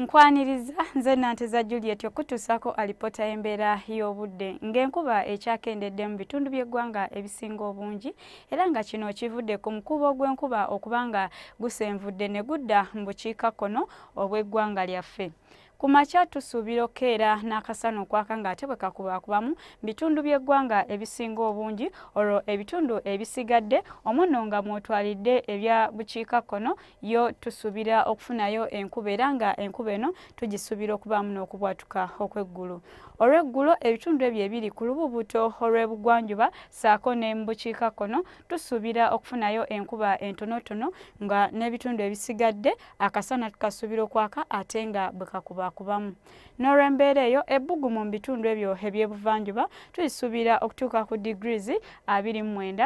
Nkwaniriza nze Nanteza Juliet okutuusako alipoota y'embeera y'obudde ng'enkuba ekyakendedde mu bitundu by'eggwanga ebisinga obungi era nga kino kivudde ku mukuubo gw'enkuba okuba nga gusenvudde ne gudda mu bukiikakkono obw'eggwanga lyaffe. Ku makya tusuubira okukeera n'akasana okwaka ng'ate bwe kakubaakubamu bitundu by'eggwanga ebisinga obungi olwo ebitundu ebisigadde omuno nga mwotwalidde ebya bukiikakkono yo tusubira okufunayo enkuba era nga enkuba eno tugisubira okubaamu n'okubwatuka okw'eggulu olw'eggulo ebitundu ebyo ebiri ku lububuto olw'ebugwanjuba saako ne mu bukiikakkono tusuubira okufunayo enkuba entonotono nga n'ebitundu ebisigadde akasana tukasuubira okwaka ate nga bwe kakubakubamu n'olw'embeera eyo ebbugu mu bitundu ebyo eby'ebuvanjuba tulisuubira okutuuka ku digirizi abiri mu mwenda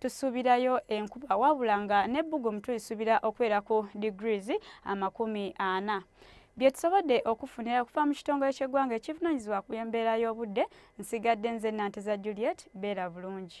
tusuubirayo enkuba wabula nga n'ebbugumu tulisuubira okubeera ku degrees amakumi ana byetusobodde okufunira okuva mu kitongole ky'eggwanga ekivunanyizibwa ku embeera y'obudde nsigadde nze nanteza juliet beera bulungi